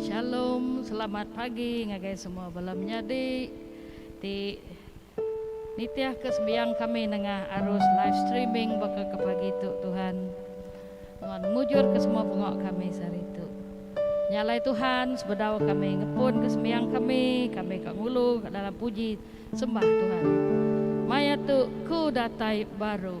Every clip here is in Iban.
Shalom selamat pagi ngagai semua bala menyadi ti nitih ke sembiang kami nengah arus live streaming baka ke pagi tu Tuhan nuan mujur ke semua bengo kami sehari tu nya alai Tuhan sebedau kami ngepun ke sembiang kami kami ka ngulu ka dalam puji sembah Tuhan maya tu ku datai baru.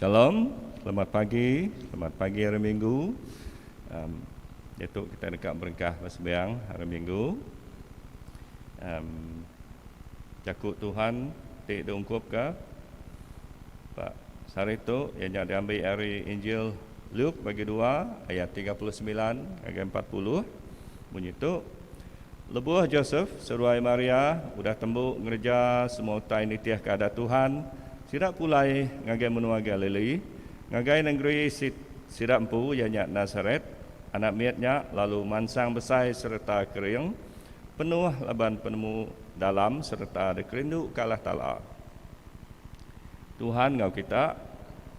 Shalom, selamat pagi, selamat pagi hari Minggu. Um, itu kita dekat berengkah bersembiang hari Minggu. Um, jaku Tuhan ti diungkup ke Pak sehari tu ianya diambil dari Injil Luke bagi dua ayat tiga puluh semilan ngagai empat puluh munyi tu, Lebuh Josef, seruai Maria, udah tembu ngereja semua utai nitihka Adat Tuhan, sida pulai ngagai menua Galili, ngagai nengeri sit sida empu iya nya Nasaret, anak mit nya lalu mansang besai sereta kering, penuh laban penemu dalam sereta dikerinduka Allah Taala. Tuhan enggau kita.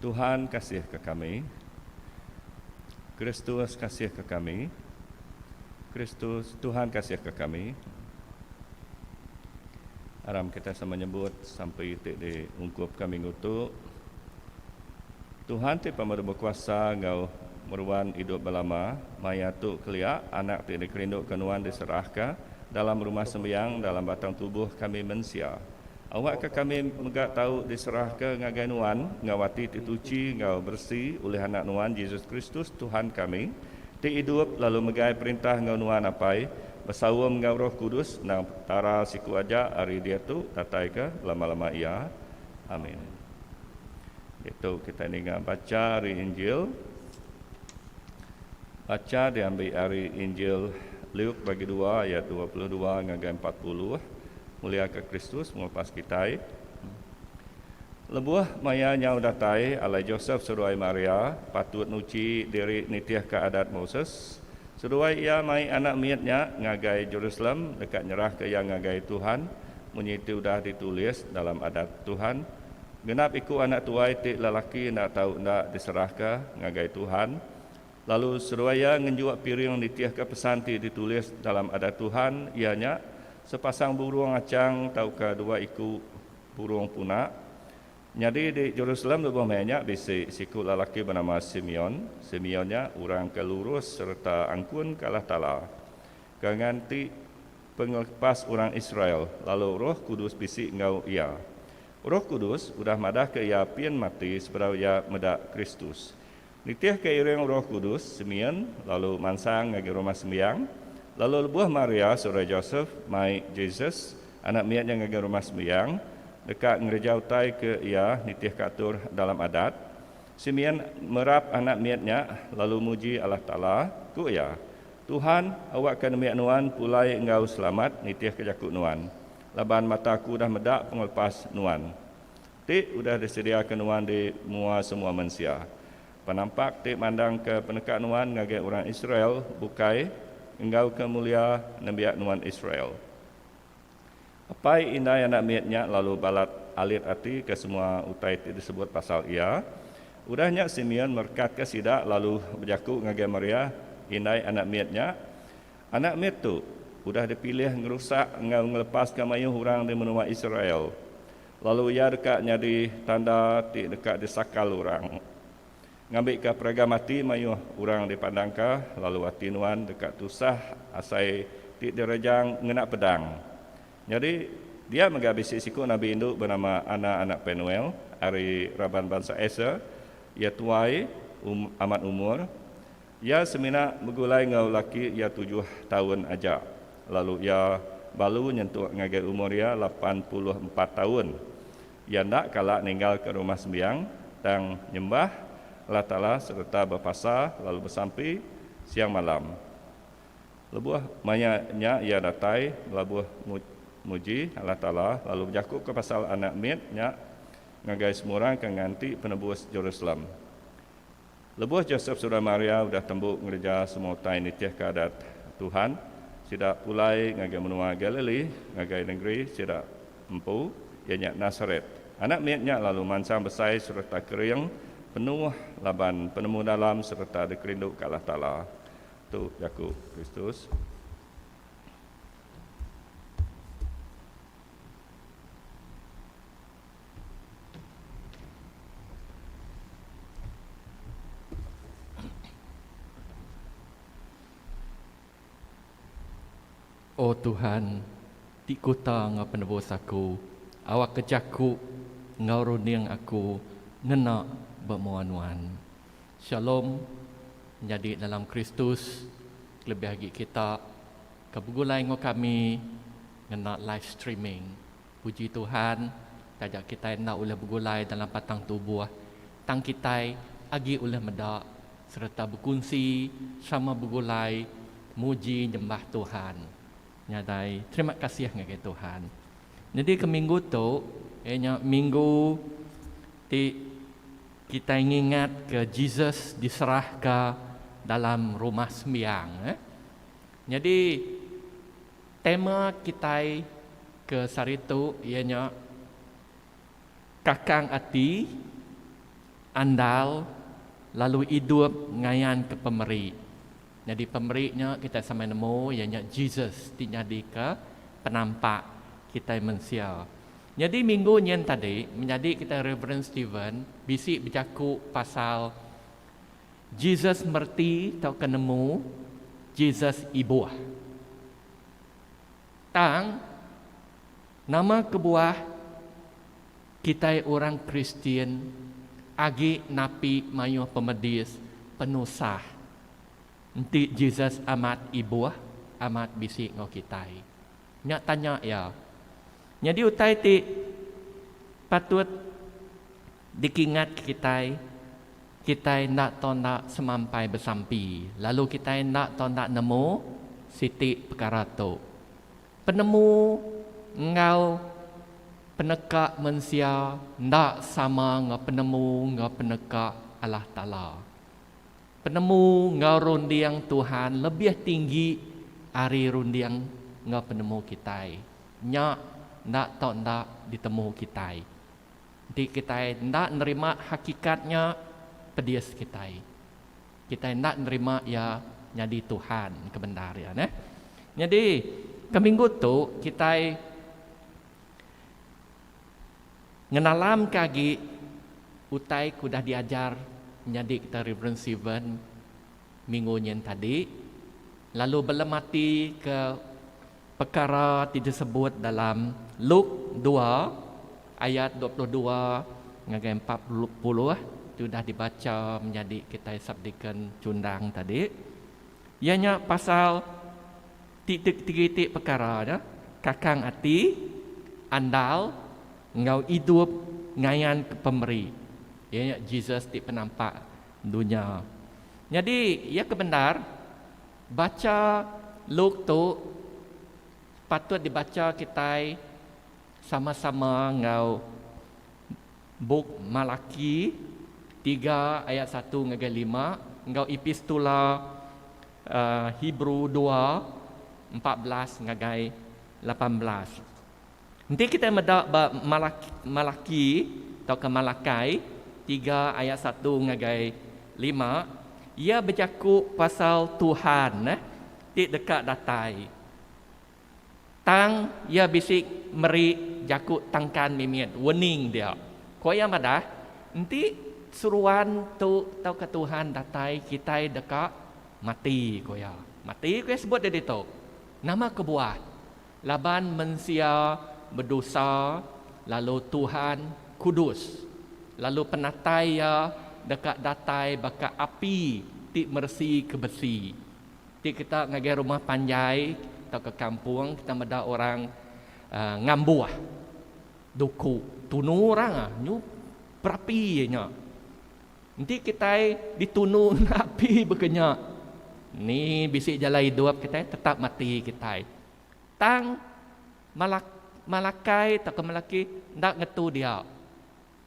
Tuhan kasihka kami. Kristus kasihka kami. Kristus, Tuhan kasihka kami. Aram kita sama nyebut sampai ti di ungkup ka minggu tu. Tuhan ti pemeru bekuasa enggau meruan idup belama, maya tu kelia anak ti dikerinduka nuan diserahka dalam rumah sembiang dalam batang tubuh kami mensia. Awakka kami mega tau diserahka ngagai nuan enggau ati ti suci enggau beresi ulih Anak nuan, Jesus Kristus, Tuhan kami, ti idup lalu megai perintah enggau nuan Apai, besaum enggau Roh Kudus endang Petara siku aja ari diatu dataika belama-lama iya. Amin. Ditu kitai ninga bacha ari Injil. Bacha diambi ari Injil Luke bagi dua ayat dua puluh dua ngagai empat puluh, Muliaka Kristus Pengelupas kitai. Lebuh maya nyau datai, alai Josef seduai Maria patut nuchi diri nitihka Adat Moses seduai iya mai anak mit nya ngagai Jerusalem deka nyerahka iya ngagai Tuhan munyi ti udah ditulis dalam Adat Tuhan, Genap iku anak tuai ti lelaki enda tau enda diserahka ngagai Tuhan. Lalu Seruaya ngenjua piring nitihka pesan ti ditulis dalam Adat Tuhan iya nya, Sepasang burung achang tauka dua iku burung puna. Nyadi di Jerusalem lebuh maya nya bisi siku lelaki benama Simeon. Simeon nya orang ke lurus sereta angkun ke Allah Taala ke nganti pengelepas orang Israel lalu Roh Kudus bisi enggau iya. Roh Kudus udah madahka iya pin mati sebedau iya meda Kristus. Nitihka iring Roh Kudus Simeon lalu mansang ngagai Rumah Sembiang, lalu lebuh Maria saudara Josef mai Jesus, anak mit nya ngagai Rumah Sembiang deka ngereja utai ke iya nitihka atur dalam Adat, Simeon merap anak mit nya lalu muji Allah Taala, ku iya, Tuhan, awakka nembiak nuan pulai enggau selamat nitihka jaku nuan, laban mata aku udah meda pengelepas nuan. Ti udah disediaka Nuan di mua semua mensia. Penampak ti mandangka peneka Nuan ngagai orang Israel bukai enggau ke mulia nembiak Nuan Israel. Apai indai anak mit nya lalu balat alit ati ke semua utai ti disebut pasal iya. Udah nya Simeon merekatka sida lalu bejaku ngagai Maria, indai anak mit nya, Anak mit tu udah dipilih ngerusak enggau ngelepaska mayuh orang di menua Israel. Lalu iya deka nyadi tanda ti deka disakal orang, ngambika peragam ati mayuh orang dipandangka, lalu ati nuan deka tusah asai ti direjang ngena pedang. Nyadi, dia mega bisi siku nabi indu benama Ana anak Penuel, ari raban bansa Aser, iya tuai, um, amat umur. Iya semina begulai enggau laki iya tujuh taun aja, lalu iya balu nyentuk ngagai umur iya lapan puluh empat taun. Iya enda kala ninggalka Rumah Sembiang, tang nyembah Allah Taala sereta bepasa lalu besampi siang malam. Lebuh maya nya iya datai belabuh muji Allah Taala lalu bejakuka pasal Anak mit nya ngagai semua orang ke nganti penebus Jerusalem. Lebuh Josep sereta Maria udah tembu ngereja semua utai nitihka Adat Tuhan, sida pulai ngagai menua Galili ngagai nengeri sida empu, iya nya Nasaret. Anak mit nya lalu mansang besai sereta kering penuh laban penemu dalam sereta dikerindu ka Allah Taala. Tu jaku Kristus. O Tuhan, ti kuta enggau penebus aku, awakka jaku enggau runding aku ngena ba mua Nuan. Shalom nyadi dalam Kristus kelebih agi kita ke begulai enggau kami ngena live streaming. Puji Tuhan, taja kitai enda ulih begulai dalam patang tubuh, tang kitai agi ulih meda sereta bekunsi sama begulai muji nyembah Tuhan. Nyadai terima kasih ngagai Tuhan. Nyadika minggu tu, iya nya minggu ti kitai ngingatka Jesus diserahka dalam Rumah Sembiang. Nyadi. Tema kitai ke sehari tu iya nya Kakang Ati, Andal lalu Idup ngayanka pemeri. Nyadi pemeri nya kitai samai nemu iya nya Jesus ti nyadika penampak kitai mensia. Nyadi minggu nyin tadi menyadi kitai Reverend Steven bisi bejaku pasal. Jesus mereti tauka nemu Jesus ibuh. Tang, nama kebuah kitai orang Kristian agi napi mayuh pemedis penusah enti Jesus amat ibuh amat bisi enggau kitai? Nya tanya iya. Nyadi utai ti patut dikingatka kitai, kitai enda tau enda semampai besampi lalu kitai enda tau enda nemu siti pekara tu. Penemu enggau peneka mensia enda sama enggau penemu enggau peneka Allah Taala. Penemu enggau runding Tuhan lebih tinggi ari runding enggau penemu kitai. Nya enda tau enda ditemu kitai. Enti kitai enda nerima hakikat nya, pedis kitai. Kitai enda nerima Iya nyadi Tuhan ke bendar iya neh. Nyadi, ke minggu tu kitai. Ngenalamka agi utai ke udah diajar nyadi kita Rev. Steven minggu nyin tadi lalu belematika pekara ti disebut dalam Luke dua ayat dua puluh dua ngagai empat puluh ti udah dibacha menyadi kitai subdeacon chundang tadi iya nya pasal Ti tegeritik pekara nya, kakang ati, andal, enggau idup ngayanka Pemeri, iya nya Jesus ti penampak dunya. Nyadi, iya ke bendar, bacha Luke tu patut dibacha kitai sama-sama enggau bup Malaki tiga ayat satu ngagai lima enggau Epistula Hebrew dua, empat belas ngagai lapan belas. Enti kitai meda ba Malaki tauka Malakai tiga ayat satu ngagai lima, iya bejaku pasal Tuhan ti deka datai. Tang iya bisi meri jaku tangkan mimit wening dia. Ko iya madah, Enti seruan tu tauka Tuhan datai kitai deka mati ko iya. Mati ko iya sebut iya ditu. Nama kebuah? Laban mensia bedosa lalu Tuhan kudus lalu penatai iya deka datai baka api ti meresi ke besi. Ti kita ngagai rumah panjai tauka kampung kita meda orang ngambuh duku tunu orang nyu berapi iya nya. Enti kitai ditunu ngena api baka nya ni bisi jalai idup kitai tetap mati kitai. Tang malak malakai tauka melaki enda ngetu dia.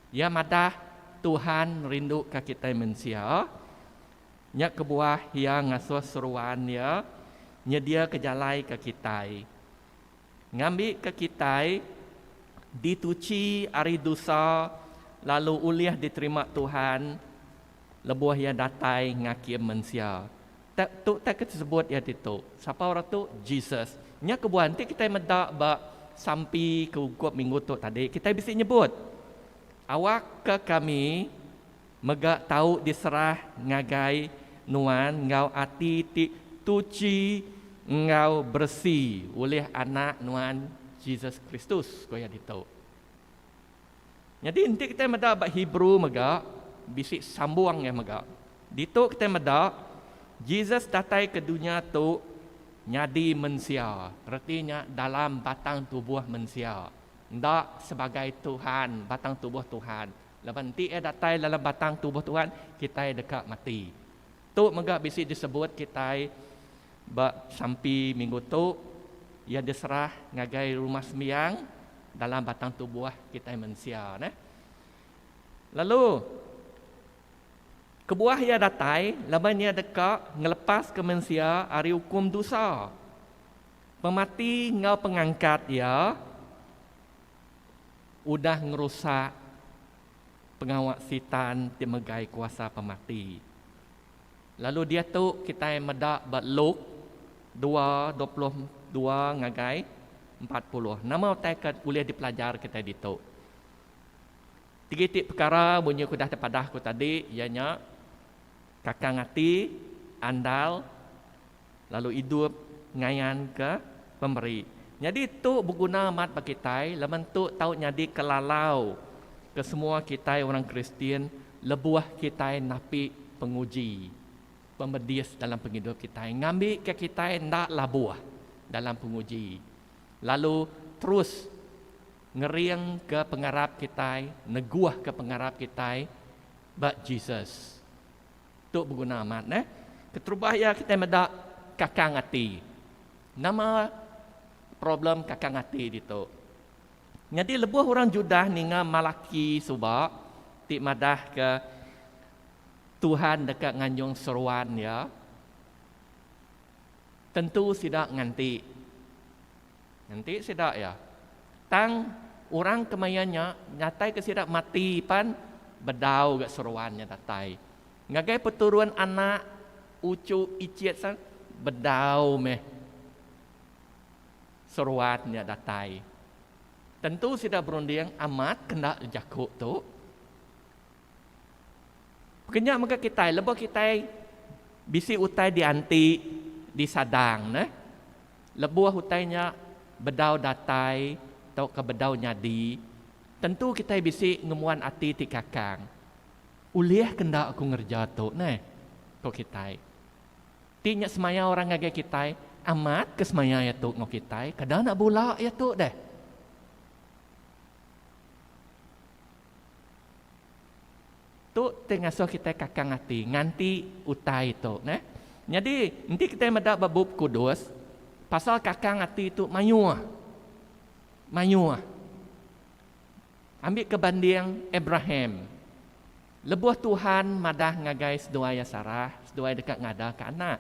Iya madah Tuhan rinduka kitai mensia Nya kebuah iya ngasuh seruan iya nyediaka jalai ke kitai, ngambika kitai dituchi ari dusa lalu ulih diterima Tuhan lebuh Iya datai ngakim mensia. Tu utai ke tesebut iya ditu. Sapa orang tu? Jesus. Nya kebuah enti kitai meda ba sampi ke ungkup minggu tu tadi, kitai bisi nyebut, Awakka kami Mega tau diserah ngagai nuan enggau ati ti tuchi enggau beresi ulih Anak nuan Jesus Kristus, ku iya ditu. Nyadi enti kitai meda ba Hebrew mega, bisi sambung iya mega. Ditu kitai meda Jesus datai ke dunya tu nyadi mensia, reti nya dalam batang tubuh mensia, enda sebagai Tuhan, batang tubuh Tuhan. Laban enti iya datai dalam batang tubuh Tuhan, kitai deka mati. Tu mega bisi disebut kitai ba sampi minggu tu, iya diserah ngagai rumah sembiang dalam batang tubuh kitai mensia neh. Lalu kebuah iya datai laban iya deka ngelepaska mensia ari ukum dosa, pemati enggau pengangkat iya. Udah ngerusak pengawa Sitan ti megai kuasa pemati. Lalu diatu kitai meda ba Luke dua dua puluh dua ngagai empat puluh. Nama utai ke ulih dipelajar kitai ditu? Tiga iti pekara munyi ke udah tepadah aku tadi iya nya kakang ati, andal, lalu idup ngayanka pemeri. Nyadi tu beguna amat ba kitai laban tu tau nyadika lalau ke semua kitai orang Kristian lebuh kitai napi penguji pemedis dalam pengidup kitai ngambika kitai enda labuh dalam penguji lalu terus ngeringka pengarap kitai neguhka pengarap kitai ba Jesus. Tu beguna amat neh. Keterubah iya kitai meda kakang ati. Nama problem kakang ati ditu? Nyadi lebuh orang Judah ninga Malaki suba ti madahka Tuhan deka nganjung seruan iya, tentu sida nganti. Ngenti sida iya. Tang orang kemaya nya nyataika sida mati pan bedau ga seruan nya datai. Ngagai peturun anak uchu ichit san bedau meh seruan nya datai. Tentu sida berunding amat ke enda jaku tu. Pekenya mega kitai lebuh kitai bisi utai dianti disadang neh lebuh utai nya bedau datai tauka bedau nyadi tentu kitai bisi ngembuan ati ti kakang ulih ke enda aku ngereja tu neh ku kitai. Ti nya semaya orang ngagai kitai amat ke semaya iya tu enggau kitai kada nak bula iya tu deh. Tu ti ngasuh kitai kakang ati nganti utai tu neh. Nyadi enti kitai meda ba Bup Kudus pasal kakang ati tu mayuh. Mayuh. Ambika banding Abraham. Lebuh Tuhan madah ngagai seduai iya Sarah, seduai deka ngadaka anak.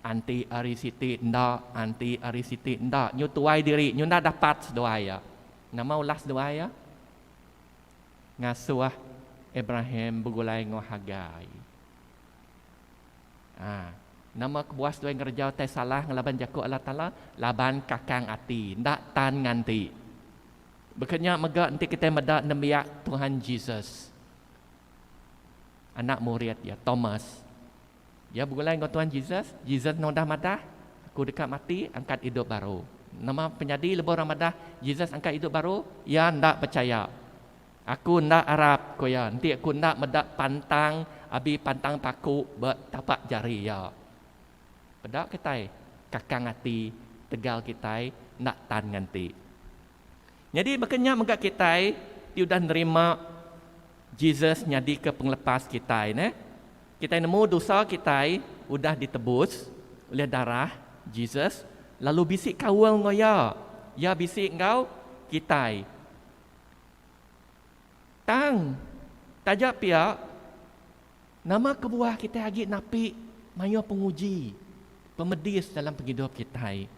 Anti ari siti enda, anti ari siti enda. Nyu tuai diri, nyu enda dapat seduai iya. Nama ulah seduai iya? ngasuh Abraham begulai enggau Hagai. A. Nama ke Boas tuai ngereja utai salah ngelaban jaku Allah Taala? Laban kakang ati, enda tan nganti. Baka nya mega enti kitai meda nembiak Tuhan Jesus, anak murid iya, Thomas, Iya begulai enggau Tuan Jesus. Jesus nudah madah, Aku deka mati, angkat idup baru. Nama penyadi lebuh orang madah Jesus angkat idup baru? Iya enda pechaya. Aku enda arap, ku iya, enti aku enda meda pantang abi pantang paku ba tapak jari iya. Peda kitai, kakang ati tegal kitai enda tan nganti. Nyadi baka nya mega kitai ti udah nerima Jesus nyadika pengelepas kitai neh. Kitai nemu dosa kitai udah ditebus ulih darah Jesus lalu bisi kaul enggau Iya. Iya bisi enggau kitai. Tang taja pia nama kebuah kitai agi napi mayuh penguji, pemedis dalam pengidup kitai.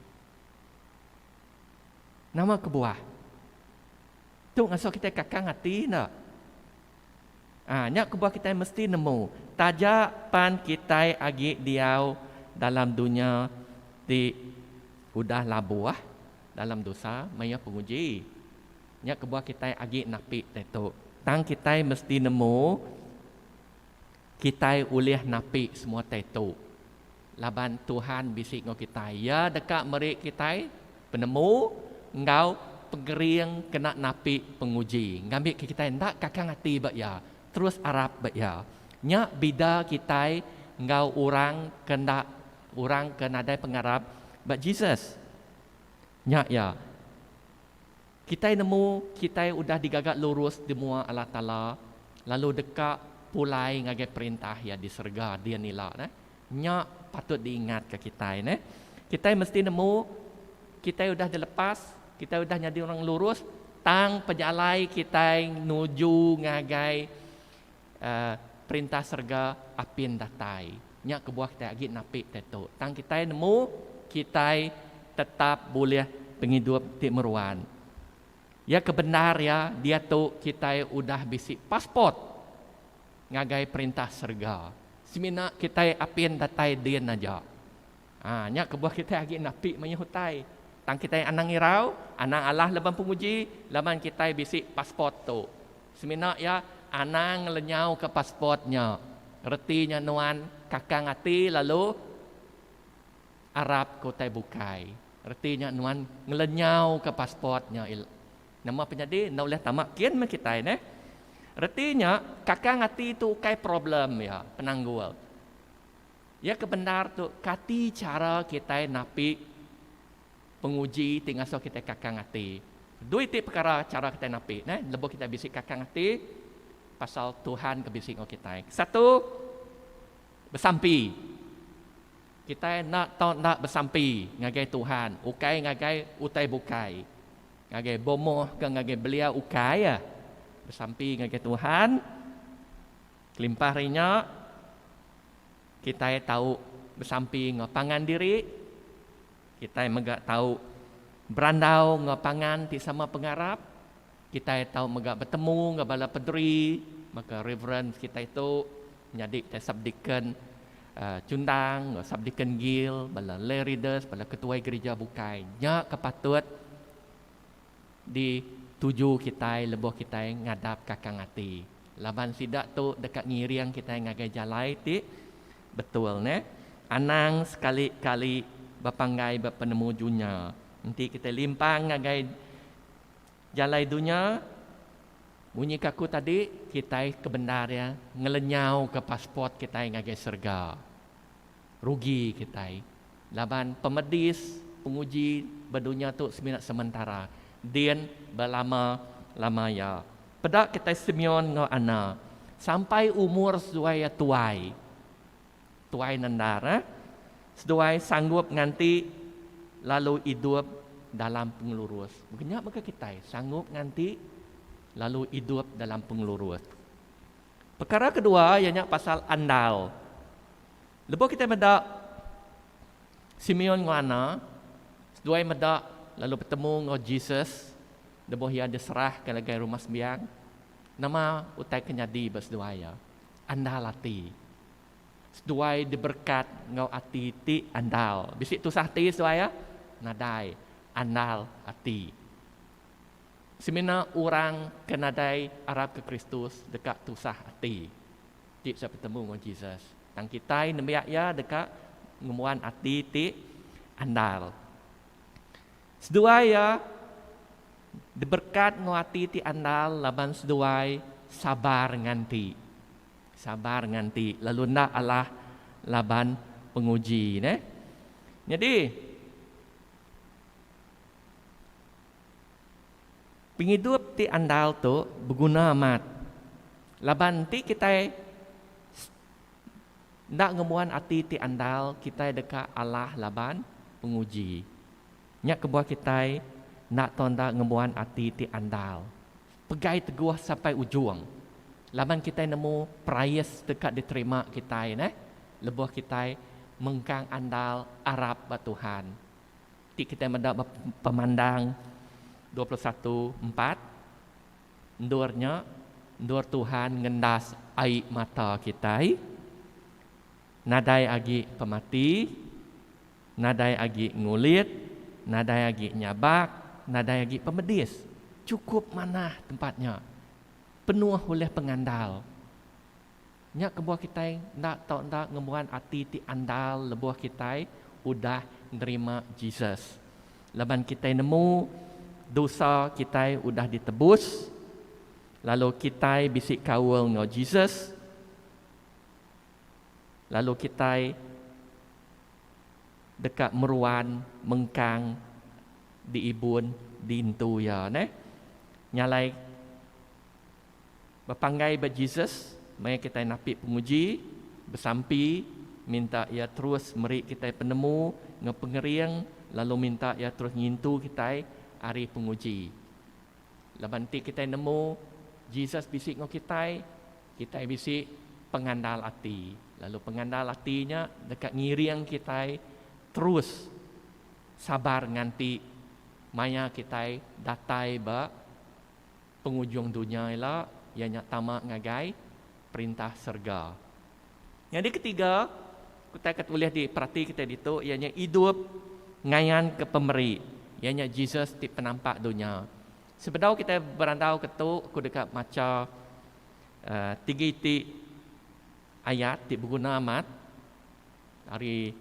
Nama kebuah? Tu ngasuh kitai kakang ati enda? Ah, nya kebuah kitai mesti nemu taja pan kitai agi diau dalam dunya ti udah labuh dalam dosa mayuh penguji. Nya kebuah kitai agi napi ditu. Tang kitai mesti nemu. Kitai ulih napi semua tai tu laban Tuhan bisi enggau kitai. Iya deka meri kitai penemu enggau pengering kena napi penguji. Ngambika kitai enda kakang ati ba Iya, terus arap ba Iya. Nya bida kitai enggau orang ke enda orang ke nadai pengarap ba Jesus. Nya iya. Kitai nemu kitai udah digaga lurus di mua Allah Taala lalu deka pulai ngagai Perintah Iya di serega din ila. Nya patut diingatka kitai. Kitai mesti nemu kitai udah dilepas, kitai udah nyadi orang lurus tang pejalai kitai nuju ngagai Perintah serega apin datai. Nya kebuah kitai agi napi diatu. Tang kitai nemu kitai tetap bulih pengidup ti meruan. Iya ke bendar iya diatu kitai udah bisi passport ngagai Perintah serega. Semina kitai apin datai din aja. Haa nya kebuah kitai agi napi mayuh utai. Tang kitai anang irau, anang alah laban penguji laban kitai bisi passport tu. Semina iya anang ngelenyauka passport nya, reti nya nuan kakang ati lalu arap ke utai bukai. Reti nya nuan ngelenyauka passport nya ila nama penyadi enda ulih tama kin meh kitai neh. Reti nya kakang ati tu ukai problem iya, penanggul. Iya ke bendar tu kati chara kitai napi Penguji ti ngasuh kitai kakang ati. Dui ti pekara chara kitai napi ne lebuh kitai bisi kakang ati pasal Tuhan ke bisi enggau kitai. Kesatu, besampi. Kitai enda tau enda besampi ngagai Tuhan, ukai ngagai utai bukai. Ngagai bomoh ke ngagai belia ukai iya. Besampi ngagai Tuhan. Kelimpah ari nya, kitai tau besampi enggau pangan diri. Kitai mega tau berandau enggau pangan ti sama pengarap. Kitai tau mega betemu enggau bala pederi baka Reverend kitai tu nyadi te Subdeacon Chundang enggau Subdeacon Gill, bala Lay Readers, bala ketuai gerija bukai. Nya ke patut. Dituju kitai lebuh kitai ngadap kakang ati, laban sida tu deka ngiring kitai ngagai jalai ti betul neh. Anang sekali kali bepanggai ba penemu dunya. Enti kitai limpang ngagai jalai dunya, munyi ke aku tadi, kitai kebendar iya ngelenyauka passport kitai ngagai serega. Rugi kitai laban pemedis penguji ba dunya tu semina sementara, din ba lama lama iya. Peda kitai Simeon enggau Anna sampai umur seduai iya tuai. Tuai nendar eh. Seduai sanggup nganti lalu idup dalam pengelurus. Mega nya mega kitai sanggup nganti lalu idup dalam pengelurus. Pekara kedua iya nya pasal andal. Lebuh kitai meda Simeon enggau Anna seduai meda lalu betemu enggau Jesus lebuh iya diserah ke ngagai rumah sembiang, nama utai ke nyadi ba seduai iya? Andal ati. Seduai diberekat enggau ati ti andal. Bisi tusah ati seduai iya? Nadai. Andal ati. Semina orang ke nadai arapka Kristus deka tusah ati ti bisi betemu enggau Jesus. Tang kitai nembiak iya deka ngembuan ati ti andal. Seduai iya diberkat enggau ati ti andal laban seduai sabar nganti. Sabar nganti lalu enda alah laban penguji neh. Nyadi. Pengidup ti andal tu beguna amat laban enti kitai enda ngembuan ati ti andal kitai deka alah laban penguji. Nya kebuah kitai enda tau enda ngembuan ati ti andal pegai teguh sampai ujung laban kitai nemu perais deka diterima kitai neh lebuh kitai mengkang andal arap ba Tuhan. Ti kitai meda ba Pemandang dua puluh satu empat, Endur nya, endur Tuhan ngendas ai mata kitai, nadai agi pemati, nadai agi ngulit, nadai agi nyabak, nadai agi pemedis. Chukup manah tempat nya, penuh ulih pengandal. Nya kebuah kitai enda tau enda ngembuan ati ti andal lebuh kitai udah nerima Jesus. Laban kitai nemu dosa kitai udah ditebus lalu kitai bisi kaul enggau Jesus lalu kitai deka meruan mengkang diibun diintu Iya neh. Nya alai. Bepanggai ba Jesus maya kitai napi penguji, besampi, minta Iya terus meri kitai penemu enggau pengering lalu minta Iya terus ngintu kitai ari penguji. Laban enti kitai nemu Jesus bisi enggau kitai, kitai bisi pengandal ati lalu pengandal ati nya deka ngiring kitai terus sabar nganti maya kitai datai ba Pengujung dunya ila iya nya tama ngagai perintah serega. Nyadi ketiga, utai ke ulih diperati kitai ditu iya nya idup ngayanka Pemeri, iya nya Jesus ti penampak dunya. Sebedau kitai berandauka tu, aku deka macha tiga iti ayat ti beguna amat ari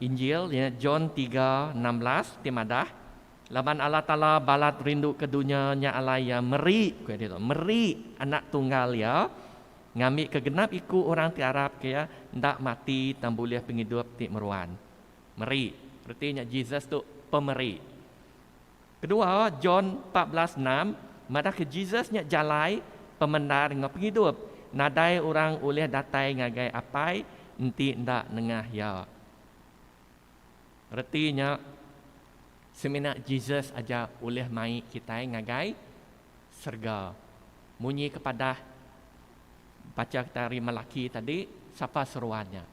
Injil iya nya John tiga enam belas ti madah. Laban Allah Taala balat rindu ke dunya nya alai Iya meri, ku Iya ditu, meri Anak Tunggal Iya, ngambika genap iku orang ti arap ke Iya enda mati tang bulih pengidup ti meruan. Meri, reti nya Jesus tu Pemeri. Kedua, John empat belas enam madahka Jesus nya jalai, pemendar enggau pengidup. Nadai orang ulih datai ngagai Apai enti enda nengah Iya. Reti nya, semina Jesus aja ulih mai kitai ngagai serega. Munyi kepadah bacha kita ari Malaki tadi, sapa seruan nya?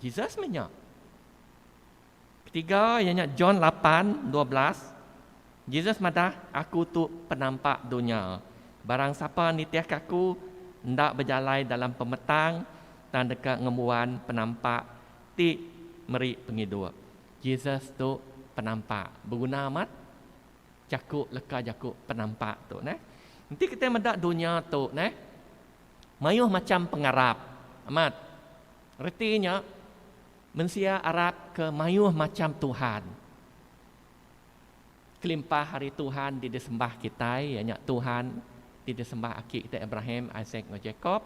Jesus meh nya. Ketiga iya nya John lapan dua belas, Jesus madah, Aku tu penampak dunya. Barang sapa nitihka Aku, enda bejalai dalam pemetang tang deka ngembuan penampak Ti meri pengidup. Jesus tu penampak. Beguna amat jaku leka jaku penampak tu neh. Enti kitai meda dunya tu neh mayuh macham pengarap. Amat. Reti nya mensia arapka mayuh macham tuhan. Kelimpah ari tuhan ti disembah kitai iya nya tuhan ti disembah aki kitai Abraham, Isaac enggau Jacob.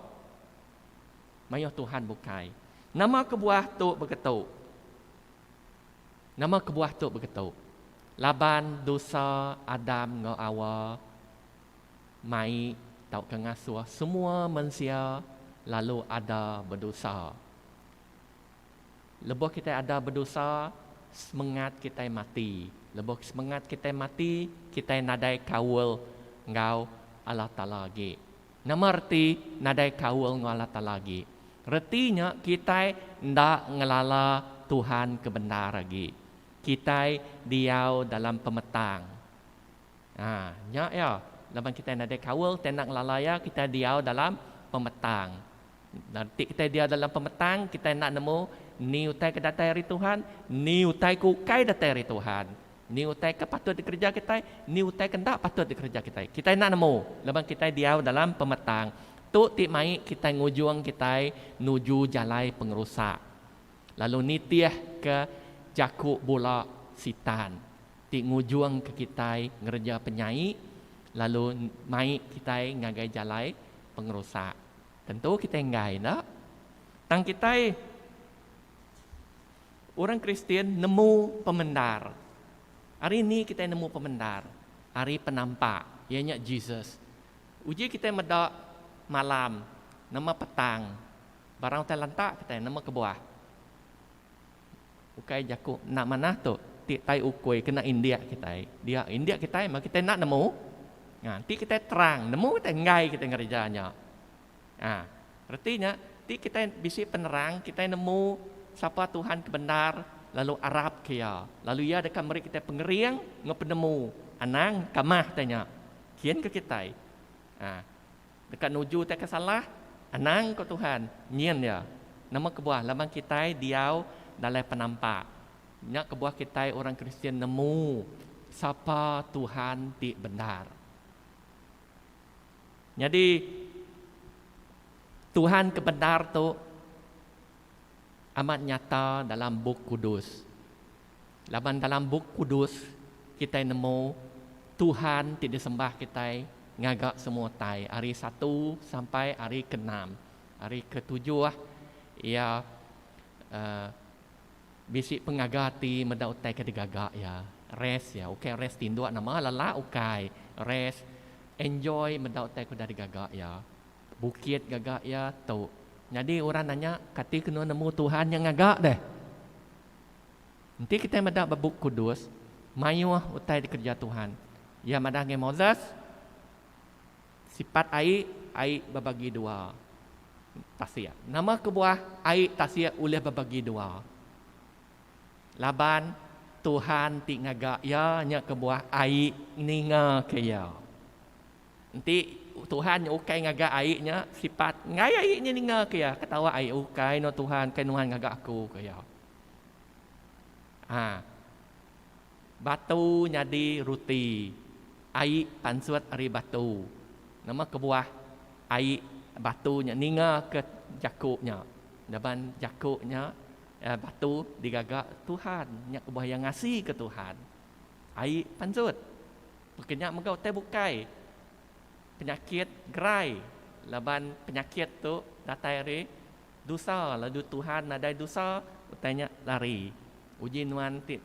Mayuh Tuhan bukai. Nama kebuah tu begetu? Nama kebuah tu begetu? Laban dosa Adam enggau Awa mai tauka ngasuh semua mensia lalu ada bedosa. Lebuh kitai ada bedosa, semengat kitai mati. Lebuh semengat kitai mati, kitai nadai kaul enggau Allah Taala agi. Nama reti nadai kaul enggau Allah Taala agi? Reti nya kitai enda ngelala Tuhan ke bendar agi. Kitai diau dalam pemetang. Ha, nya iya. Laban kitai nadai kaul, kitai enda ngelala Iya, kitai diau dalam pemetang. Nanti kitai dia dalam pemetang, kitai enda nemu ni utai ke datai ari Tuhan, ni utai ke ukai datai ari Tuhan. Ni utai ke patut dikereja kitai, ni utai ke enda patut dikereja kitai. Kitai enda nemu laban kitai diau dalam pemetang. Tu ti mai kitai ngujung kitai nuju jalai pengerusak. Lalu nitih ke jaku bula Sitan ti ngujung ke kitai ngereja penyai lalu mai kitai ngagai jalai pengerusak. Tentu kitai enggai enda. Tang kitai orang Kristian nemu pemendar. Hari ni kitai nemu pemendar ari penampak iya nya Jesus. Uji kitai meda malam nama petang barang utai lantak kitai nama kebuah. Ukai jaku enda manah tu ti tai ukui kena indik kitai. Dia indik kitai meh kitai enda nemu. Ha, ti kitai terang, nemu kitai enggai kitai ngereja nya. Ha, reti nya ti kitai bisi penerang kitai nemu sapa Tuhan ke bendar lalu arap ke iya. Lalu iya deka meri kitai pengering enggau penemu. Anang kamah tanya. Kin ke kitai. Ha. Deka nuju utai ke salah? Anang, ku Tuhan. Nyin iya. Nama kebuah? Laban kitai diau dalam penampak. Nya kebuah kitai orang Kristian nemu sapa Tuhan ti bendar. Nyadi, Tuhan ke bendar tu amat nyata dalam Bup Kudus. Laban dalam Bup Kudus kitai nemu Tuhan ti disembah kitai ngaga semua utai ari satu sampai ari ke enam. Ari ke tujuh iya uhh bisi pengaga ati meda utai ke digaga iya. Rest iya ukai rest tinduk nama lala ukai rest enjoy meda utai ke udah digaga iya. Bukit gaga iya tu. Nyadi orang nanya kati ke nemu Tuhan nya ngaga deh. Enti kitai meda ba Bup Kudus, mayuh utai dikereja Tuhan. Iya madah ngagai Moses, Sipat ai, ai bebagi dua tasik. Nama kebuah ai tasik ulih bebagi dua? Laban Tuhan ti ngaga iya nya kebuah ai ningaka iya. Enti Tuhan nya ukai ngaga ai nya, sipat enggai ai nya ningaka iya. Ketawa ai, ukai no Tuhan, ukai nuan ngaga aku, ku iya. Ha. Batu nyadi ruti. Ai pansut ari batu. Nama kebuah ai batu nya ninga ke jaku nya. Laban jaku nya eh batu digaga Tuhan. Nya kebuah iya ngasika Tuhan. Ai pansut. Peka nya mega utai bukai penyakit gerai laban penyakit tu datai ari. Dusa, lalu Tuhan nadai dusa, utai nya lari. Uji nuan ti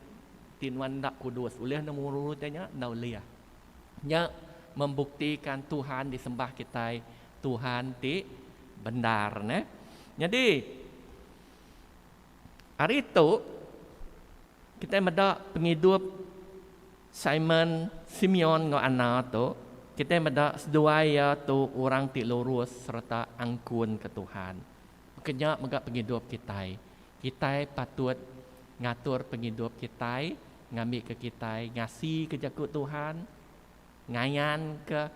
ti nuan enda kudus, ulih nemu utai nya? Enda ulih. Nya membuktika Tuhan disembah kitai Tuhan ti bendar neh. Nyadi ari tu kitai meda pengidup. Simon, Simeon enggau Anna tu, kitai meda seduai iya tu orang ti lurus sereta angkun ke Tuhan. Baka nya mega pengidup kitai. Kitai patut ngatur pengidup kitai ngambika kitai ngasika jaku Tuhan, ngayanka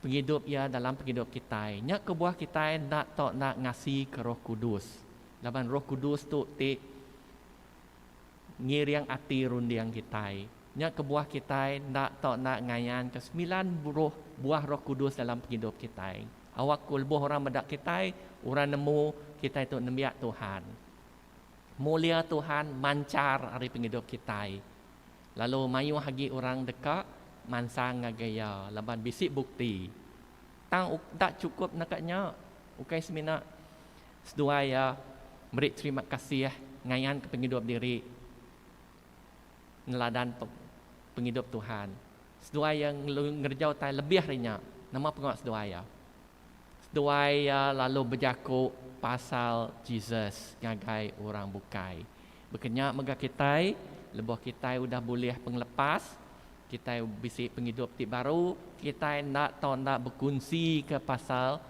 pengidup iya dalam pengidup kitai. Nya kebuah kitai enda tau enda ngasika Roh Kudus. Laban Roh Kudus tu ti ngiring ati runding kitai. Nya kebuah kitai enda tau enda ngayanka semilan roh buah Roh Kudus dalam pengidup kitai. Awak ku lebuh orang meda kitai, orang nemu kitai tu nembiak Tuhan. Mulia Tuhan manchar ari pengidup kitai. Lalu mayuh agi orang deka mansang ngagai iya laban bisi bukti. Tang enda chukup naka nya. Ukai semina Seduai iya meri terima kasih ngayanka pengidup diri neladan pengidup Tuhan. Seduai iya ngereja utai lebih ari nya. Nama pengawa seduai iya? Seduai iya lalu bejaku pasal Jesus ngagai orang bukai. Baka nya mega kitai, lebuh kitai udah bulih pengelepas, kitai bisi pengidup ti baru, kitai enda tau enda bekunsika pasal.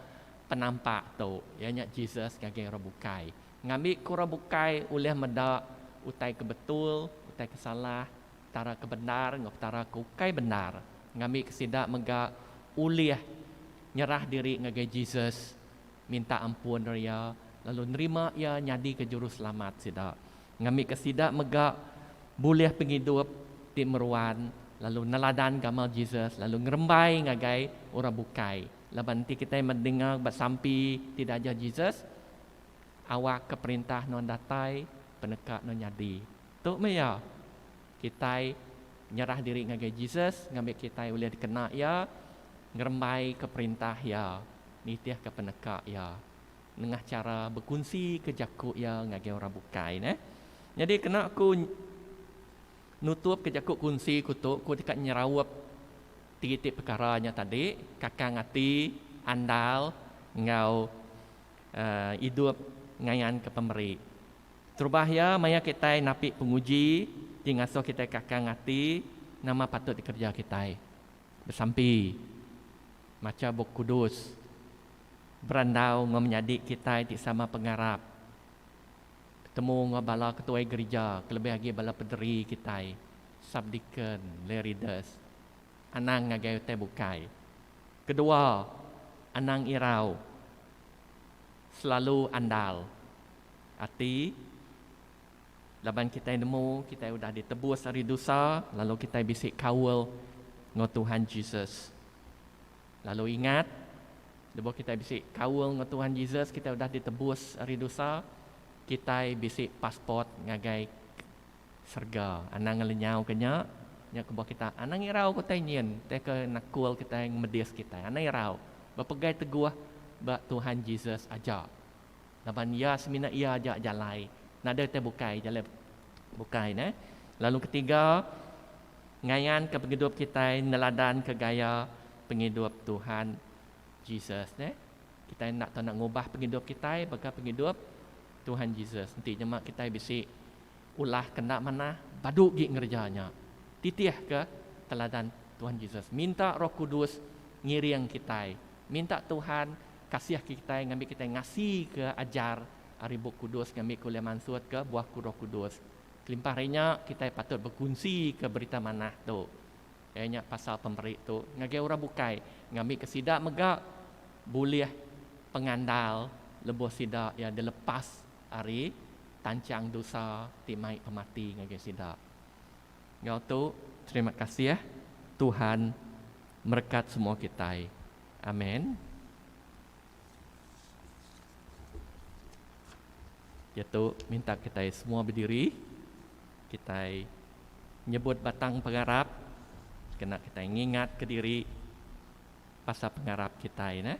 Penampak tu, iya nya Jesus ngagai orang bukai. Ngambika orang bukai ulih meda utai ke betul, utai ke salah, petara ke bendar enggau petara ke ukai bendar. Ngambika sida mega ulih nyerah diri ngagai Jesus, minta ampun ari iya lalu nerima iya nyadika juruselamat sida. Ngambika sida mega bulih pengidup ti meruan lalu neladan gamal Jesus lalu ngerembai ngagai orang bukai. Laban enti kitai mendengar ba sampi ti diajar Jesus, awakka Perintah nuan datai, peneka nuan nyadi. Tu meh iya, kitai nyerah diri ngagai Jesus ngambi kitai ulih dikena Iya ngerembaika Perintah Iya, nitihka peneka Iya nengah chara bekunsika jaku Iya ngagai orang bukai. Nyadi kena ku. Nutup ke jaku kunsi ku tu ku deka nyeraup ti iti pekara nya tadi, kakang ati, andal enggau uhh idup ngayan ke pemeri. Terubah iya maya kitai napi penguji ti ngasuh kitai kakang ati nama patut dikereja kitai. Besampi, macha bup kudus, berandau enggau menyadi kitai ti sama pengarap. Betemu enggau bala ketuai gerija kelebih agi bala pederi kitai, subdeacon, lay readers, anang ngagai utai bukai. Kedua, anang irau selalu andal ati laban kitai nemu kitai udah ditebus ari dusa lalu kitai bisi kaul enggau Tuhan Jesus. Lalu ingat, lebuh kitai bisi kaul enggau Tuhan Jesus, kitai udah ditebus ari dosa, kitai bisi passport ngagai serega. Anang ngelenyauka nya, nya kebuah kita anang irau ke utai nyin, utai ke nakul kitai ngemedis kitai. Anang irau bepegai teguh ba Tuhan Jesus aja. Laban iya semina iya aja jalai. Nadai utai bukai jalai bukai neh. Lalu ketiga, ngayanka pengidup kitai neladanka gaya pengidup Tuhan Jesus neh. Kitai enda tau nak ngubah pengidup kitai baka pengidup Tuhan Jesus. Enti nyema kitai bisi ulah ke enda manah, badu agi ngereja nya. Titihka teladan Tuhan Jesus. Minta Roh Kudus ngiring kitai. Minta Tuhan Kasih kitai ngambi kitai ngasika ajar ari Bup Kudus ngambika ulih mansutka buah ku Roh Kudus. Kelimpah ari nya, kitai patut bekunsika berita manah tu, iya nya pasal pemeri tu, ngagai orang bukai ngambika sida mega bulih pengandal lebuh sida iya dilepas ari tanchang dosa ti mai pemati ngagai sida. Enggau tu, terima kasih Tuhan merekat semua kitai. Amen. Yaitu minta kita semua berdiri. Kita nyebut batang pengarap. Kena kita ngingat ke diri pasal pengarap kita. Nah.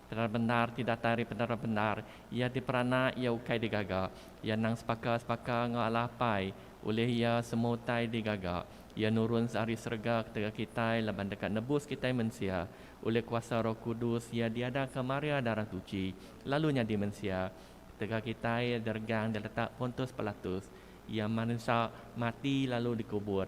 Penara bendar ti datai ari penara bendar iya diperana iya ukai digaga. Iya endang sepaka-sepaka enggau Allah Apai. Ulih iya, semua utai digaga. Iya nurun seari serega ketegal kitai laban deka nebus kitai mensia. Ulih kuasa Roh Kudus iya diadaka Maria Darah Tuchi lalu nyadi mensia. Ketegal kitai diregang diletak Pontus Pilatus, iya marinsa, mati lalu dikubur.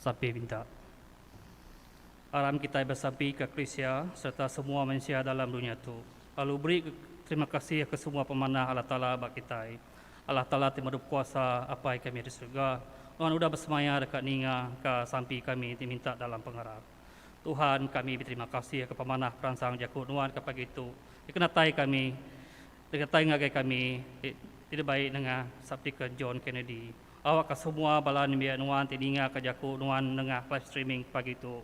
Sampi Pinta. Aram kitai besampi ka Krisia sereta semua mensia dalam dunya tu, lalu beri terima kasih ke semua pemanah Allah Taala ba kitai. Allah Taala ti merup kuasa Apai kami di serega nuan udah besemaya deka ninga ka sampi kami ti minta dalam pengarap. Tuhan kami beterima kasih ke pemanah peransang jaku nuan ke pagi tu dikenatai kami dikenatai ngagai kami ti ti dibai nengah Subdeacon John Kennedy. Awak ka semua bala nembiak nuan ti ninga ka jaku nuan nengah live streaming pagi tu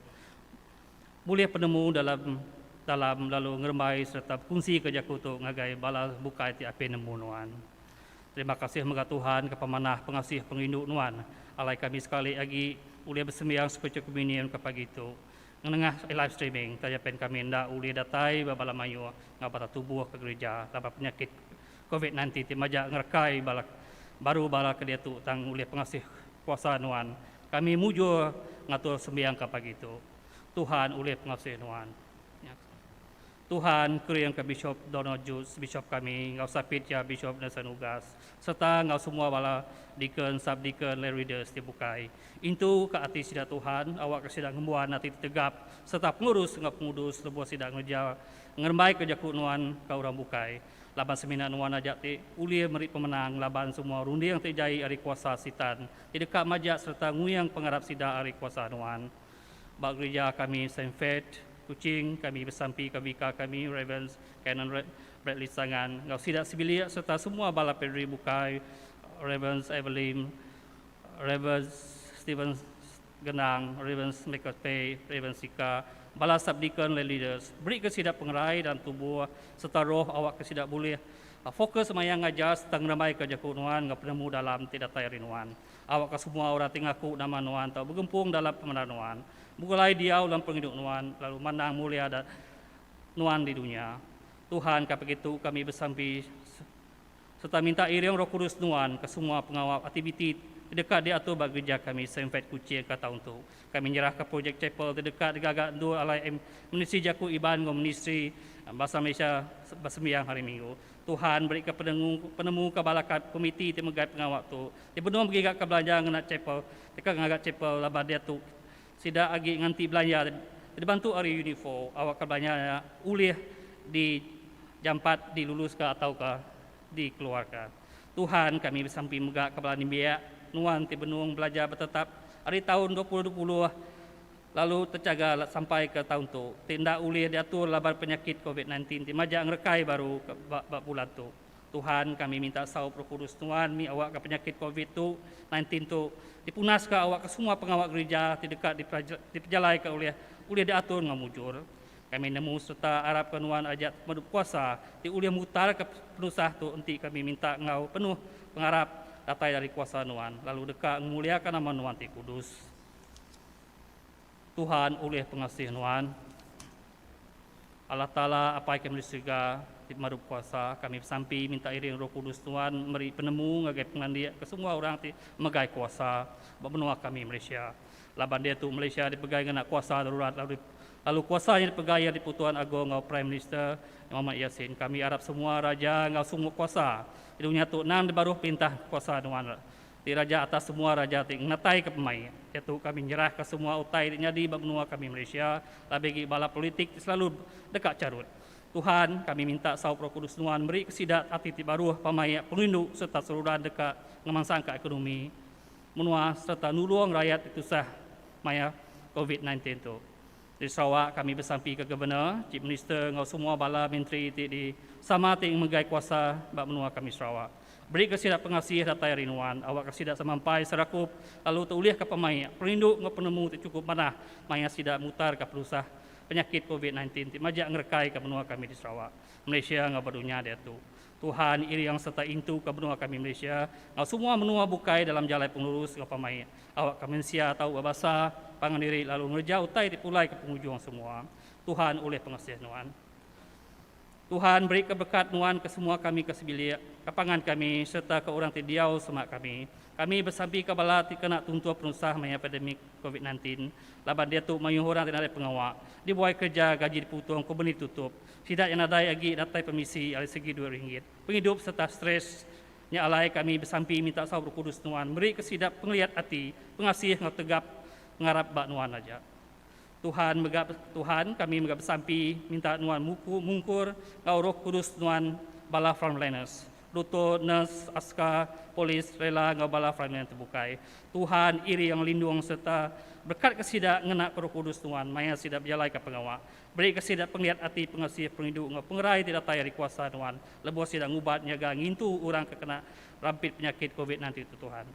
Bulih penemu dalam dalam lalu ngerembai sereta bekunsika jaku tu ngagai bala bukai ti apin nemu nuan. Terima kasih mega Tuhan ke pemanah pengasih pengerindu nuan alai kami sekali agi ulih besembiang Scripture Communion ke pagi tu ngenengah live streaming taja pen kami enda ulih datai ba bala mayuh enggau bala tubuh ke gerija laban penyakit covid nineteen ti majak ngerekai bala baru bala ke diatu tang ulih pengasih kuasa nuan Kami mujur ngatur sembiang ka pagi tu. Tuhan ulih pengasih nuan. Nya tu. Tuhan kering ka Bishop Donald Judge, Bishop kami, enggau Sapit iya Bishop Nelson Ugas, serta enggau semua bala Deacon, Sub-Deacon, Lay Readers ti bukai. Intu ka ati sida Tuhan, awak ka sida ngembuan ati ti tegap serta pengurus enggau pengudus lebuh sida ngereja ngerembai ka jaku nuan ka orang bukai. Laban semina nuan aja ti ulih meri pemenang laban semua runding ti jai ari kuasa Sitan ti deka majak sereta nguyang pengarap sida ari kuasa nuan. Ba gerija kami Saint Faith, Kuching, kami besampika Vikar kami Rev. Canon Bradley Sangan enggau sida sebilik sereta semua bala padri bukai Rev. Evelyn, Rev. Stephen Genang, Rev. Michael Tay, Rev. Sika, bala sub-deacon le leaders. Berika sida pengerai dan tubuh sereta roh awakka sida bulih Fokus maya ngajar sereta ngerembaika jaku nuan enggau penemu dalam ti datai ari nuan. Awakka semua orang ti ngaku nama nuan tau begempung dalam pemandar nuan. Begulai diau dalam pengidup nuan lalu mandang mulia nuan di dunya. Tuhan ka begitu kami besampi sereta minta iring Roh Kudus nuan ke semua pengawa aktiviti ti deka diatur ba gerija kami Saint Fate Kuching ka taun tu. Kami nyerahka projek chapel ti deka digaga endur alai Ministri Jaku Iban enggau Ministri Basa Malaysia besembiang Hari Minggu. Tuhan berika penemu ke bala komiti ti megai pengawa tu, ti benung begigaka belanja ngena chapel deka ngaga chapel laban diatu sida agi nganti belanja ti dibantu ari UNIFO awakka belanja nya ulih dijampat diluluska atauka dikeluarka. Tuhan, kami besampi mega kepala nembiak nuan ti benung belajar betetap ari taun dua puluh dua puluh lalu techaga sampai ke taun tu ti enda ulih diatur laban penyakit covid sembilan belas ti majak ngerekai baru ba bulan tu. Tuhan, kami minta saup Roh Kudus nuan mih awakka penyakit covid tu sembilan belas tu dipunaska awakka semua pengawa gerija ti deka dipejalaika ulih ulih diatur enggau mujur. Kami nemu sereta arapka nuan aja pemedu kuasa ti ulih mutarka penusah tu enti kami minta enggau penuh pengarap datai ari kuasa nuan lalu deka ngemuliaka nama nuan ti kudus. Tuhan ulih pengasih nuan. Allah Taala, Apai kami di serega ti pemadu bekuasa, kami besampi minta iring Roh Kudus nuan meri penemu ngagai pengelandik ke semua orang ti megai kuasa ba menua kami Malaysia. Laban diatu Malaysia dipegai ngena kuasa darurat lalu lalu kuasa nya dipegai iya Dipu Tuan Agong enggau Prime Minister Mohamad Yasin. Kami arap semua raja enggau semua kuasa di dunya tu endang dibaruh perintah kuasa nuan ti raja atas semua raja ti ngenataika pemai diatu kami nyerahka semua utai ti nyadi ba menua kami Malaysia labi agi bala politik ti selalu deka charut. Tuhan, kami minta saup Roh Kudus nuan merika sida ati ti baruh, pemaik, pengindu sereta seruran deka ngemansangka ekonomi. menua sereta nulung rayat ti tusah maya Covid sembilan belas tu. Di Sarawak, kami besampi ke Governor, Chief Minister enggau semua bala menteri ti di sama ti ngemegai kuasa ba menua kami Sarawak. Berika sida pengasih datai ari nuan, awakka sida sama empai serakup lalu teulihka pemaik, perindu enggau penemu ti chukup manah maya sida mutarka penusah penyakit Covid sembilan belas ti majak ngerekaika menua kami di Sarawak, Malaysia enggau ba dunya diatu. Tuhan iring serta intu ke menua kami Malaysia enggau semua menua bukai dalam jalai pengelurus enggau pamaik awak ke mensia tau bebasa pangan diri lalu ngereja utai ti pulai ke pengujung semua Tuhan ulih pengasih nuan Tuhan beri ke berkat nuan ke semua kami ke sebilik ke pangan kami serta ke orang ti diau semak kami kami besampi ke bala ti kena tuntuh penusah maya pandemik covid 19 laban diatu mayuh orang ti nadai pengawa dibuai kereja gaji diputung kompeni ditutup Sida nya nadai agi datai pemisi ari segi duit ringgit, pengidup sereta stress. Nya alai kami besampi minta saup Roh Kudus Nuan merika sida pengeliat ati, pengasih enggau tegap ngarap ba Nuan aja. Tuhan mega Tuhan kami mega besampi minta Nuan muku mungkur enggau Roh Kudus Nuan bala frontliners, dutur, nurse, aska, polis, rela enggau bala frontline ti bukai. Tuhan iring lindung sereta berkatka sida ngenaka Roh Kudus Nuan maya sida bejalaika pengawa. Berika sida pengelit ati pengasih perindu enggau pengerai ti datai ari kuasa Nuan lebuh sida ngubat nyaga ngintu orang ke kena rampit penyakit covid nine ti tu Tuhan.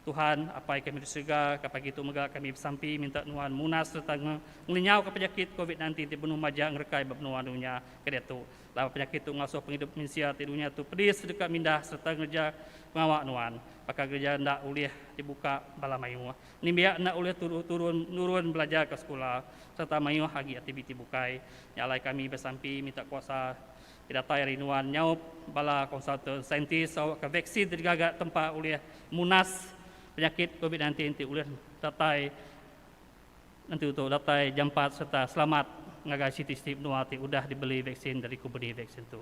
Tuhan, Apai kami di serega, ka pagi tu mega kami besampi minta Nuan munas sereta nge ngenyauka penyakit covid nine ti benung maja ngerekai ba menua dunya ke diatu laban penyakit tu ngasuh pengidup mensia ti dunya tu pedis deka mindah sereta ngereja pengawa Nuan baka gereja enda ulih dibuka bala mayuh Nembiak enda ulih turu turun nurun belajar ke sekula sereta mayuh agi aktiviti bukai nya alai kami besampi minta kuasa ti datai ari nuan nyaup bala konsultan saintis sawakka vaksin ti digaga tempa ulih munas penyakit covid sembilan belas ti ulih datai nentu tu datai jampat sereta selamat ngagai siti-siti menua ti udah dibeli vaksin dari kompeni vaksin tu.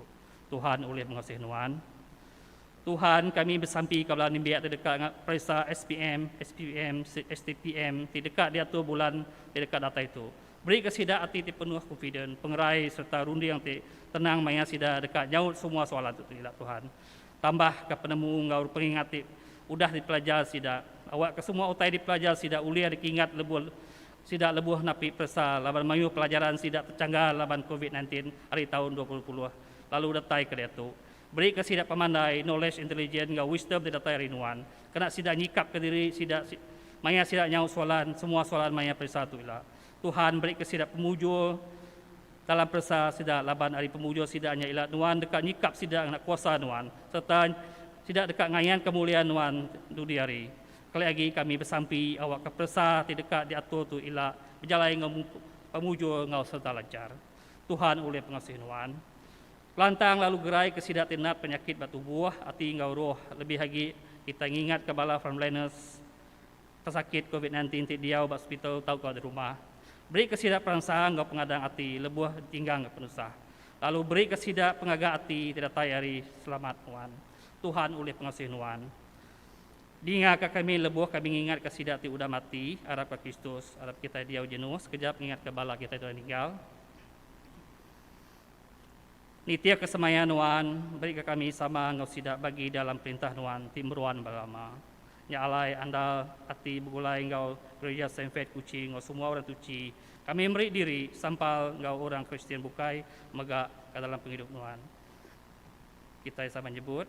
Tuhan ulih mengasih nuan. Tuhan kami besampi ka bala nembiak ti deka nga peresa SPM, SPVM, STPM ti deka diatur bulan ti deka datai tu. Beri ka sida ati ti penuh confident, pengerai sereta runding ti tenang maya sida deka nyaut semua soalan tu ila Tuhan. Tambah ka penemu enggau pengingat ti udah dipelajar sida. Awak ka semua utai dipelajar sida ulih dikingat lebuh sida lebuh napi peresa laban mayuh pelajaran sida techanggar laban covid nineteen ari taun dua ribu dua puluh lalu datai ka diatu. Berika sida pemandai, knowledge, intelligence enggau wisdom ti datai ari nuan, kena sida nyikapka diri sida maya sida nyaut soalan, semua soalan maya peresa tu ila. Tuhan berika sida pemujur dalam peresa sida laban ari pemujur sida nya ila nuan deka nyikap sida ngena kuasa nuan sereta sida deka ngayanka mulia nuan dudi hari. Keleh agi kami besampi awakka peresa ti deka diatur tu ila bejalai enggau pemujur enggau sereta lanchar. Tuhan ulih pengasih nuan. Pelantang lalu gerai ke sida ti nap penyakit ba tubuh, ati enggau roh. Lebih agi, kitai ngingatka bala frontliners pesakit covid sembilan belas ti diau ba hospital tauka di rumah. Berika sida peransa enggau pengadang ati lebuh ditinggangka penusah. Lalu berika sida pengaga ati ti datai ari selamat nuan. Tuhan ulih pengasih nuan. Dingaka kami lebuh kami ngingatka sida ti udah mati, arapka Kristus. Arap kitai diau jenuh sekejap ngingatka bala kitai tu udah ninggal. Nitihka semaya nuan, berika kami sama enggau sida bagi dalam perintah nuan ti meruan ba lama. Nya alai andal ati begulai enggau Gereja Sainfed Kuching enggau semua orang tuchi, kami meri diri sampal enggau orang Kristian bukai mega ka dalam pengidup nuan. Kitai sama nyebut,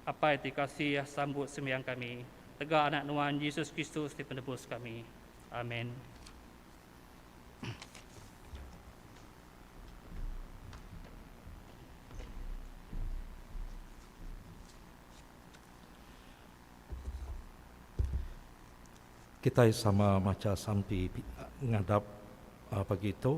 Apai ti kasih, sambut sembiang kami. Tega Anak nuan, Jesus Kristus ti Penebus kami. Amen. Kitai sama macha sampi ngadap pagi tu.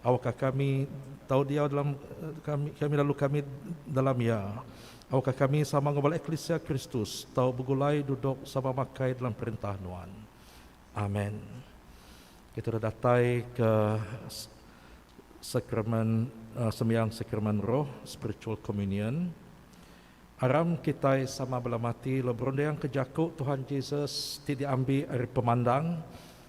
Awakka kami tau diau dalam kami kami lalu kami dalam iya. Awakka kami sama enggau bala eklisia Kristus tau begulai duduk sama makai dalam perintah Nuan. Amen. Kita udah datai ke sakramen uh, sembiang sakramen roh, spiritual communion. Aram kitai sama bela mati lalu berunding ke jaku Tuhan Jesus ti diambi ari pemandang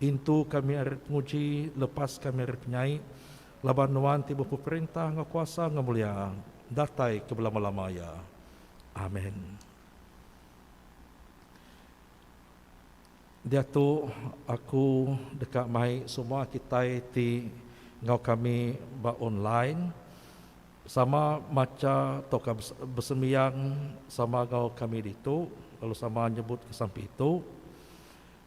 Intu kami ari penguji lepas kami ari penyai, laban Nuan ti bepeperintah enggau kuasa enggau mulia datai ke belama-lama iya. Amen. Diatu aku deka mai semua kitai ti enggau kami ba online sama macha tauka besembiang sama enggau kami ditu lalu sama nyebut ke sampi tu.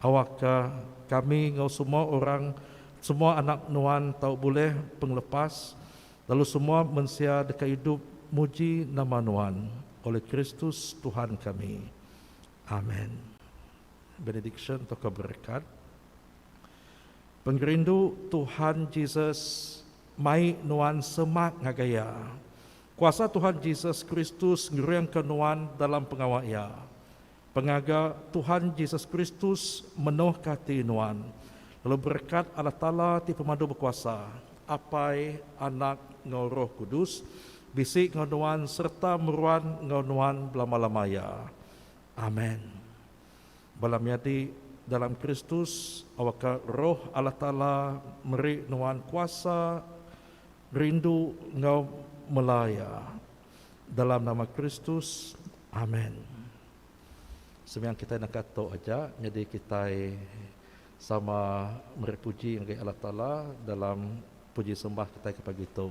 Awakka kami enggau semua orang, semua anak Nuan tau bulih pengelepas, lalu semua mensia deka idup muji nama Nuan, olih Kristus Tuhan kami. Amen. Benediksyen tauka berekat. Pengerindu Tuhan Jesus mai nuan semak ngagai Iya. Kuasa Tuhan Jesus Kristus ngeringka nuan dalam pengawa Iya. Pengaga Tuhan Jesus Kristus menohka ati nuan, lalu berekat Allah Taala ti Pemadu Bekuasa, Apai, Anak, enggau Roh Kudus, bisi enggau nuan sereta meruan enggau nuan belama-lama iya. Amen. Bala menyadi dalam Kristus, awakka Roh Allah Taala meri nuan kuasa, rindu enggau mela Iya. dalam nama Kristus. Amen. Sembiang kitai naka tu aja nyadi kitai sama meri puji ngagai Allah Taala dalam puji sembah kitai ke pagi tu.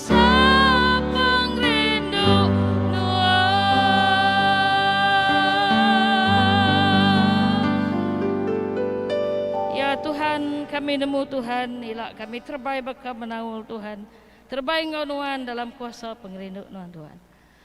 Sapang rindu Nuan. Ya Tuhan, kami nemu Tuhan ila kami terebai baka menaul Tuhan, terebai enggau Nuan dalam kuasa pengerindu Nuan Tuhan.